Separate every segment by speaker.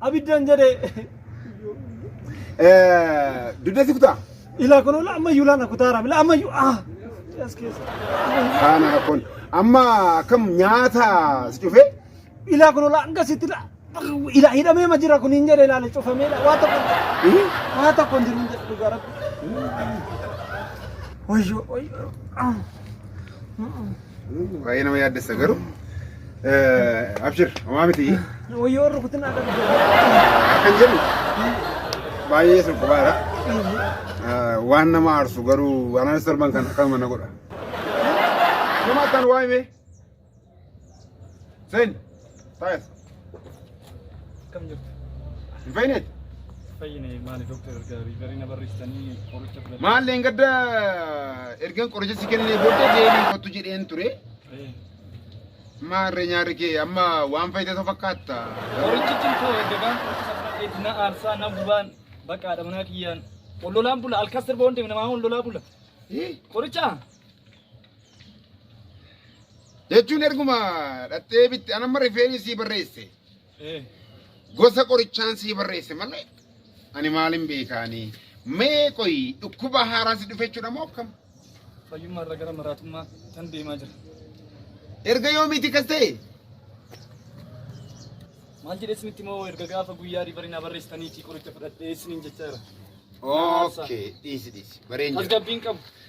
Speaker 1: Abiddan jedhee. Dugda si kutaa. Ilaa kun ola ammayyuu
Speaker 2: laana kutaara mila ammayyuu ah. As keessa. Kaana
Speaker 1: rakkoon. Amma akkam nyaata si cufee? Ilaa kun
Speaker 2: ola hanga sitti la. Ilaa hidhamee ma jira kun hin jedhe ilaale cufamee la. Waa tokko waa tokko hin jiru hin jedhe dhugaa rabbi. Wayyoo wayyoo.
Speaker 1: Baay'ee nama yaaddessa garuu. Abshir, homaa miti. Wayyoo rukutin
Speaker 2: akka Akkan
Speaker 1: jedhu baay'ee sun qubaadha. Waan nama aarsu garuu waan anas darban kan akkanuma na godha. Nama akkan waa himee. Sen. Taa'es.
Speaker 3: Akkam jirtu? Hin fayyine?
Speaker 1: Fayyine
Speaker 3: maali dooktar erga riivarii na barreessanii qoricha fudhadhe. Maallee hin gadda
Speaker 1: ergan qoricha si kennee booddee deebiin kottu jedheen ture. Eh, Maarree nyaarri kee amma waan fayyite osoo fakkaatta. Qorichichi koo egaa
Speaker 3: fudhadheetti na aarsaa na gubaan bakka haadha manaa kiyyaan ol lolaan bula alkas sirba waan deeme namaa ol lolaa bula. Eh? Qoricha
Speaker 1: jechuun erguma dhattee bitte anamma rifeeni sii barreesse gosa qorichaan sii barreesse malee ani maalin beekaanii mee qoy dhukkuba haaraa si dhufe jechuudha moo akkam fayyummaa irra
Speaker 3: gara maraatummaa tan deemaa jira. erga
Speaker 1: yoomiiti kas ta'e
Speaker 3: Maal jedhee isinitti moo erga gaafa guyyaa riivarii naa barreessitaniitii qoricha fudhadhee isiniin jechaa jira. okay
Speaker 1: dhiisi dhiisi bareen jira Tasgabbiin qabu.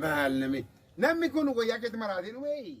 Speaker 1: Maal nami? Namni kun wayyaa keetti maraatiin wayii.